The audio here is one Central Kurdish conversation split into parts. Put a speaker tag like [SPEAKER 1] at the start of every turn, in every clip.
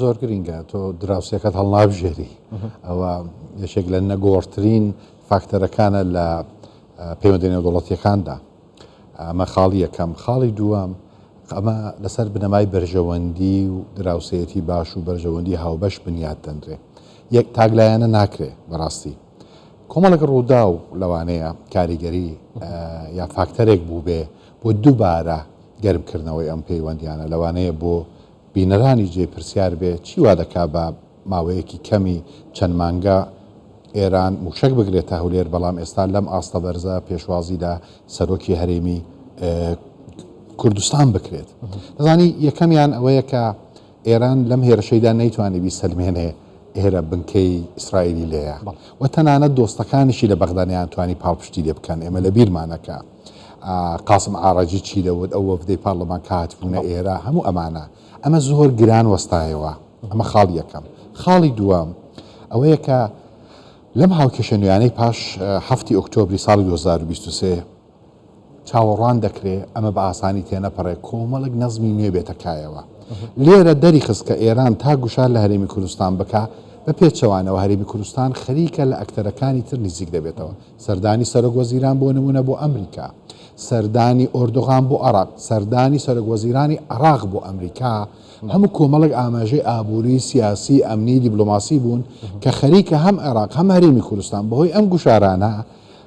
[SPEAKER 1] زۆر
[SPEAKER 2] گرینگە تۆ دراوسێکەت هەڵنابژێری ئەوە یەکێک لە نەگۆڕترین فاکتەرەکانە لە پەیوەندی نێودوڵەتیەکاندا ئەمە خاڵی یەکەم خاڵی دووەم ئەمە لەسەر بنەمای بەرژەوەندی و دراوسەتی باش و بەرژەوەندی هاوبەش بنیات دەنرێ یەک تاگلایەنە ناکرێ بەڕاستی کۆمەڵک ڕوودا و لەوانەیە کاریگەری یا فاکتەرێک بوو بێ بۆ دووبارە گەرمکردنەوەی ئەم پەیوەندییانە لەوانەیە بۆ بینەرانی جێی پرسیار بێت، چی وا دەکات بە ماوەیەکی کەمی چەند مانگە ئێران مووشەک بگرێتە هەولێر، بەڵام ئێستا لەم ئاستە بەرزە پێشوازی لە سەرۆکی هەرێمی کوردستان بکرێت؟ دەزانی یەکەمیان ئەوەیە کە ئێران لەم هێرشەیدا نەیتوانی بیسەلمێنێ ئێرە بنکەی ئیسرائیلی لێیە و تەنانەت دۆستەکانیشی لە بەغدا نەیانتوانی پاڵپشتی لێ بکەن، ئێمە لە بیرمانەکە قاسم عاڕەجی چی دەوت، ئەو وەفدەی پارڵمان کە هاتبوونە ئێرە، هەموو ئەمانە. ئەمە زۆر گران وەستایەوە. ئەمە خاڵی یەکەم. خاڵی دووەم ئەوەیە کە لەم هاوکێشە نوێیانەی پاش هەفتی ئۆکتۆبری ساڵی دوو هەزار و بیست و سێ، چاوەڕوان دەکرێ ئەمە بە ئاسانی تێنەپەڕێ کۆمەڵێک نەزمی نوێ بێتە کایەوە. لێرە دەریخست کە ئێران تا گوشار لە هەرێمی کوردستان بکا، بە پێچەوانەوە هەرێمی کوردستان خەریکە لە ئەکتەرەکانی تر نزیک دەبێتەوە، سەردانی سەرۆک وەزیران بۆ نموونە بۆ ئەمریکا، سەردانی ئۆردوغان بۆ عێراق، سەردانی سەرۆک وەزیرانی عێراق بۆ ئەمریکا، هەموو کۆمەڵێک ئاماژەی ئابووری، سیاسی، ئەمنی، دیبلۆماسی بوون کە خەریکە هەم عێراق هەم هەرێمی کوردستان بەهۆی ئەم گوشارانە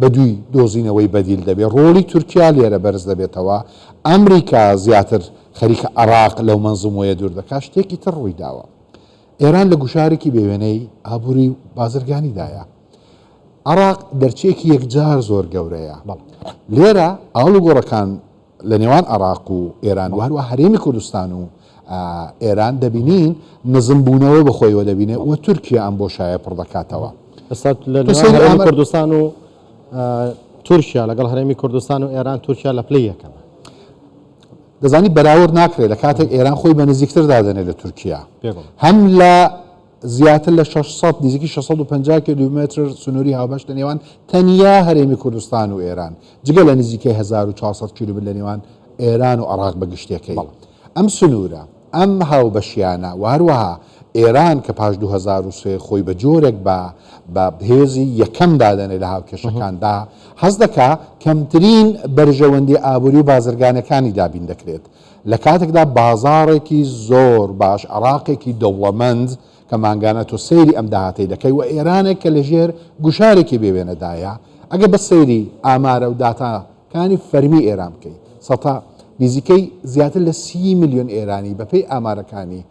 [SPEAKER 2] بەدووی دۆزینەوەی بەدیل دەبێت، ڕۆڵی تورکیا لێرە بەرز دەبێتەوە، ئەمریکا زیاتر خەریکە عێراق لەو مەنزومەیە دوور دەکات، شتێکی تر ڕوویداوە، ئێران لە گوشارێکی بێ وێنەی ئابووری و بازرگانیدایە، عێراق دەرچەیەکی یەکجار زۆر گەورەیە، لێرە ئاڵوگۆڕەکان. لە نێوان عێراق و ئێران و هەروەها هەرێمی کوردستان و ئێران دەبینین نزمبوونەوە بە خۆیەوە دەبینێت و تورکیا ئەم بۆ شایە پڕ دەکاتەوە ئێستا لە
[SPEAKER 1] نێوان هەرێمی کوردستان و تورکیا لەگەڵ هەرێمی کوردستان و ئێران تورکیا لە پلی یەکەمە
[SPEAKER 2] دەزانی بەراورد ناکرێت لە کاتێک ئێران خۆی بە نزیکتر دادەنێت لە تورکیا هەم لە زیاتر لە شەش سەد، نزیکی شەش سەد و پەنجا کیلۆمەتر سنووری هاوبەش لە نێوان تەنیا هەرێمی کوردستان و ئێران، جگە لە نزیکەی هەزار و چوار سەد کیلۆمەتر لە نێوان ئێران و عێراق بە گشتێکەی. ئەم سنوورە، ئەم هاوبەشییانە و هەروەها ئێران کە پاش دوو هەزار و سێ خۆی بە جۆرێک بە بە هێزی یەکەم دادەنێت لە هاوکێشەکاندا، هەست دەکات کەمترین بەرژەوەندییە ئابووری و بازرگانییەکانی دابین دەکرێت. لە کاتێکدا بازاڕێکی زۆر باش، عێراقێکی دەوڵەمەند کە مانگانە تۆ سەیری ئەم داهاتەی دەکەی و ئێرانێک کە لەژێر گوشارێکی بێ وێنەدایە، ئەگەر بەس سەیری ئامارە و داتا کانی فەرمی ئێران بکەی، سەتا نیزیکەی زیاتر لە سی ملیۆن ئێرانی بە پێی ئامارەکانی،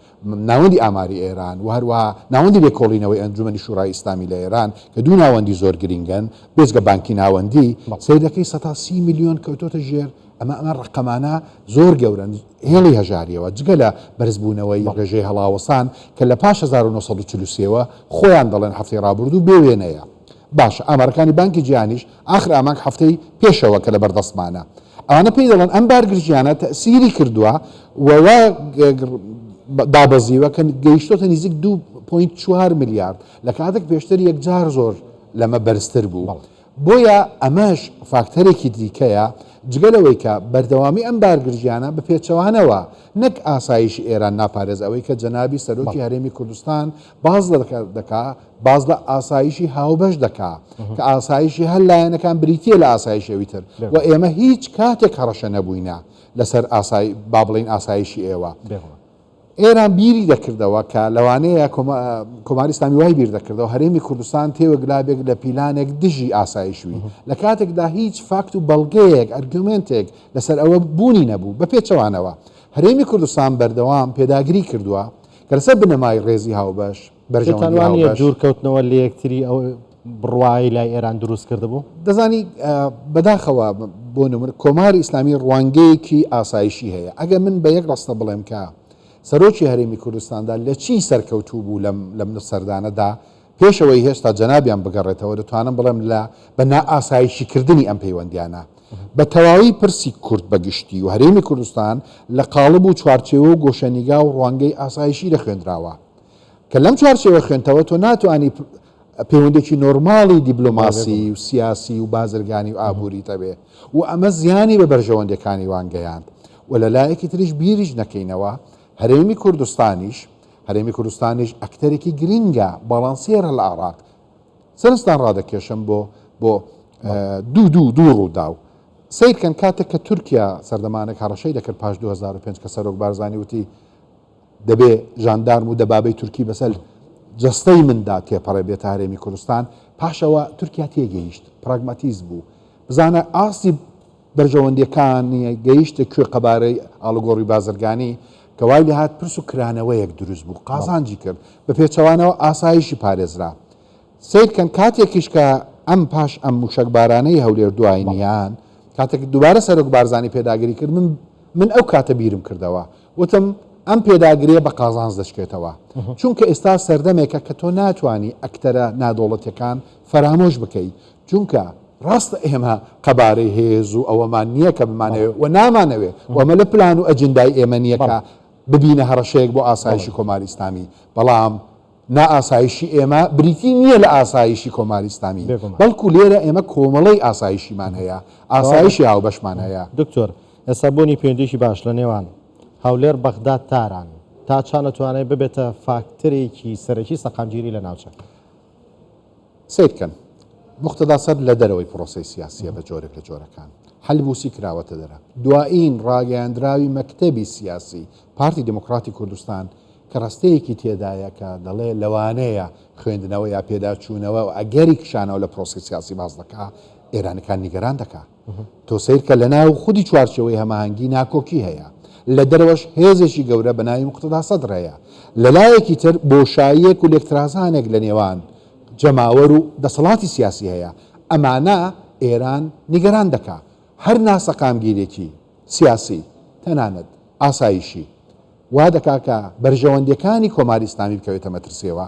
[SPEAKER 2] ناوەندی ئاماری ئێران و هەروەها ناوەندی لێکۆڵینەوەی ئەنجومەنی شورای ئیسلامی لە ئێران کە دوو ناوەندی زۆر گرینگن بێجگە بانکی ناوەندی سەیرەکەی سەتا سی ملیۆن کەوتۆتە ژێر ئەمە ئەمە ڕەقەمانە زۆر گەورەن هێڵی هەژاریەوە جگە لە بەرزبوونەوەی ڕێژەی هەڵاوەسان کە لە پاش هەزار و نۆ سەد و چل و سێ وە خۆیان دەڵێن هەفتەی ڕابردوو بێ وێنەیە. باشە ئامارەکانی بانکی جیهانیش ئاخر ئامانگ هەفتەی پێشەوە کە لەبەر دەستمانە ئەوانە پێی دەڵێن ئەم بارگرژیانە تەئسیری کردوە و وا دابەزیوە کە گەیشتۆتە نزیک دوو پۆینت چوار ملیارد لە کاتێک پێشتر یەکجار زۆر لەمە بەرزتر بوو بەڵێ بۆیە ئەمەش فاکتەرێکی دیکەیە جگە لەوەی کە بەردەوامی ئەم بارگرژیانە بە پێچەوانەوە نەک ئاسایشی ئێران ناپارێز ئەوەی کە جەنابی سەرۆکی بەڵێ هەرێمی کوردستان باس دەکا باس لە ئاسایشی هاوبەش دەکا کە ئاسایشی هەر لایەنەکان بریتە لە ئاسایشەوی تر و ئێمە هیچ کاتێک هەڕەشە نەبووینە لەسەر ئاسای با بڵین ئاسایشی ئێوە ئێران بیری دەکردەوە کە لەوانەیە کۆماری سامی وای بیر دەکردەوە هەرێمی کوردستان تێوەگلابێک لە پیلانێک دژی ئاسایشوی لە کاتێکدا هیچ فاکت و بەڵگەیەک ئەرگومنتێک لەسەر ئەوە بوونی نەبوو بە پێچەوانەوە هەرێمی کوردستان بەردەوام پێداگری کردووە کە لەسەر بنەمای ڕێزی هاوبەش، بەرژەوەندی هاوبەش. پێتان وا نییە
[SPEAKER 1] دوورکەوتنەوە لە یەکتری ئەو بڕوایەی لای ئێران دروست کردبوو؟ دەزانی
[SPEAKER 2] بەداخەوە بۆ نمونە کۆماری ئیسلامی ڕوانگەیەکی ئاسایشی هەیە، ئەگەر من بە یەک ڕستە بڵێم کە سەرۆکی هەرێمی کوردستاندا لە چی سەرکەوتوو بوو لەم سەردانەدا، پێش ئەوەی هێشتا جەنابیان بگەڕێتەوە، دەتوانم بڵێم لە بە نائاسایشیکردنی ئەم پەیوەندیانە، بە تەواوی پرسی کورد بە گشتی و هەرێمی کوردستان لە قاڵب و چوارچێوە و گۆشەنیگا و ڕوانگەی ئاسایشی دەخوێندراوە، کە لەم چوارچێوە خوێندتەوە تۆ ناتوانی پەیوەندێکی نۆرماڵی دیبلۆماسی و سیاسی و بازرگانی و ئابووریت هەبێ و ئەمە زیانی بە بەرژەوەندەکانی وان گەیاند و لە لایەکی تریش بیریش نەکەینەوە هەرێمی کوردستانیش هەرێمی کوردستانیش ئەکتەرێکی گرینگە باڵانسیێرە لە عێڕاق. سەرنجتان ڕادەکێشم بۆ بۆ دوو دوو دوو ڕووداو. سەیر کەن کاتێک کە تورکیا سەردەمانێک هەڕەشەی دەکرد پاش 2005 کە سەرۆک بارزانی وتی دەبێ ژاندارم و دەبابەی تورکی بەسەر جەستەی مندا تێپەڕێ بێتە هەرێمی کوردستان پاشەوە تورکیا تێگەیشت پراگماتیز بوو بزانە ئاستی بەرژەوەندییەکانی گەیشتە کوێ قەبارەی ئاڵوگۆڕی بازرگانی کە وای لێهات پرس و کرانەوەیەک دروست بوو قازانجی کرد بە پێچەوانەوە ئاسایشی پارێزرا سەیرکەن کاتێکیش کە ئەم پاش ئەم موشەکبارانەی هەولێر دواینیان کاتێک دووبارە سەرۆک بارزانی پێداگری کرد من من ئەو کاتە بیرم کردەوە وتم ئەم پێداگرێ بە قازانز دەشکێتەوە چونکە ئێستا سەردەمێکە کە تۆ ناتانی ئەکتەرە نادۆڵەتەکان فەرامۆش بکەیت چونکە ڕاستە ئێمە قەبارەی هێز و ئەوەمان نییە کە بمانەوێت و نامانەوێت و ئەمە لە پلان و ئەجندای ئێمە نییە کە ببینە هەڕەشەیەک بۆ ئاسایشی کۆماری ئیسلامی، بەڵام نائاسایشی ئێمە بریتی نییە لە ئاسایشی کۆماری ئیسلامی، بەڵکو لێرە ئێمە کۆمەڵەی ئاسایشیمان هەیە، ئاسایشی هاوبەشمان هەیە. دکتۆر، ئێستا
[SPEAKER 1] بوونی پەیوەندییەکی باش لە نێوان هەولێر، بەغداد، تاران تا چەند ئەتوانێت ببێتە فاکتەرێکی سەرەکی سەقامگیری لە ناوچەکە؟
[SPEAKER 2] سەیرکەن، موقتەدا سەدر لە دەرەوەی پرۆسەی سیاسییە بە جۆرێک لە جۆرەکان حەلبوسی کراوەتە دەرە. دوایین ڕاگەیاندراوی مەکتەبی سیاسی پارتی دیموکراتی کوردستان کە ڕەستەیەکی تێدایە کە دەڵێ لەوانەیە خوێندنەوە یا پێداچوونەوە ئەگەری کشانەوە لە پرۆسەی سیاسی باس دەکا، ئێرانیەکان نیگەران دەکا. تۆ سەیرکە لەناو خودی چوارچێوەی هەماهەنگی ناکۆکی هەیە، لە دەرەوەش هێزێکی گەورە بە ناوی موقتەدا سەدر هەیە، لە لایەکی تر بۆشاییەک و لێکترازانێک لە نێوان جەماوەر و دەسەڵاتی سیاسی هەیە، ئەمانە ئێران نیگەران دەکا، هەر ناسەقامگیرێکی سیاسی تەنانەت ئاسایشی وا دەکا کە بەرژەوەندیەکانی کۆماری ئیسلامی بکەوێتە مەترسیەوە،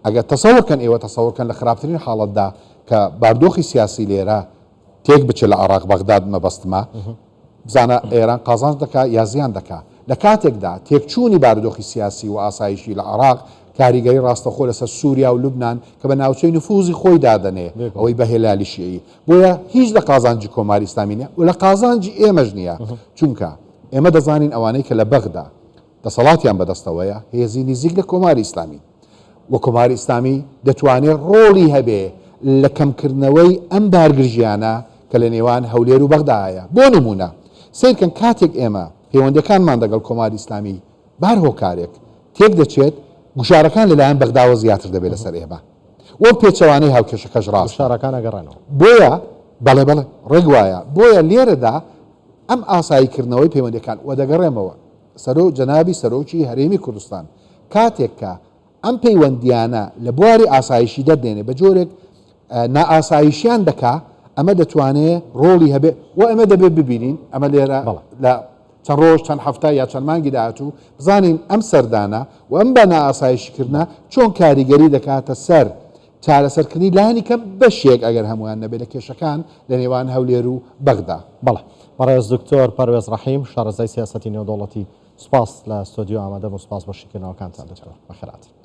[SPEAKER 2] ئەگەر تەسەور کەن ئێوە تەسەور کەن لە خراپترین حاڵەتدا کە باردۆخی سیاسی لێرە تێک بچێت لە عێراق بەغداد مەبەستمە بزانە ئێران قازانج دەکا یا زیان دەکا لە کاتێکدا تێکچوونی بارودۆخی سیاسی و ئاسایشی لە عێراق کاریگەری ڕاستەخۆ لەسەر سووریا و لوبناان کە بە ناوچەی نفوزی خۆی دادەنێ ئەوەی بە هێلالی شیعی بۆیە هیچ لە قازانجی کۆماری ئیسلامی نیە و لە قازانجی ئێمەش نییە چونکە ئێمە دەزانین ئەوانەی کە لە بەغدا دەسەڵاتیان بەدەستەوەیە هێزی نیزیک لە کۆماری ئیسلامی و کۆماری ئیسلامی دەتوانێ ڕۆڵی هەبێ لە کەمکردنەوەی ئەم بارگرژیانە کە لە نێوان هەولێر و بەغدا هەیە بۆ نموونە سەیرکەن کاتێک ئێمە پەیوەندەکانمان دەگەڵ کۆماری ئیسلامی بار هۆکارێک تێک دەچێت گوشارەکان لەلایەن بەغداوە زیاتر دەبێت لەسەر ئێمە وەو پێچەوانەی هاوکێشەکەش ڕاست گوشارەکان ئەگەڕێنەوە
[SPEAKER 1] بۆیە
[SPEAKER 2] بەڵێ بەڵێ ڕێک وایە بۆیە لێرەدا ئەم ئاسایی کردنەوەی پەیوەندەکان وە دەگەڕێمەوە سەرۆک جەنابی سەرۆکی هەرێمی کوردستان کاتێک کە ئەم پەیوەندییانە لە بواری ئاسایشی دەردێنێ بە جۆرێک نائاسایشیان دەکا ئەمە دەتوانێ ڕۆڵی هەبێ و ئەمە دەبێت ببینین ئەمە لێرە لە چەند ڕۆژ چەند هەفتە یا چەند مانگی داهاتوو بزانین ئەم سەردانە و ئەم بە نائاسایشکردە چۆن کاریگەری دەکاتە سەر چارەسەرکردنی لانی کەم بەشێک ئەگەر هەموویان نەبێت لە کێشەکان لە نێوان هەولێر و بەغدا. بەڵێ بەڕێز
[SPEAKER 1] دکتۆر پەروێز ڕەحیم شارەزای سیاسەتی نێودەوڵەتی سوپاس لە ستۆدیۆ ئامادەبوون سوپاس بۆ شیکردنەوەکانتان دکتۆر بەخێرهاتن.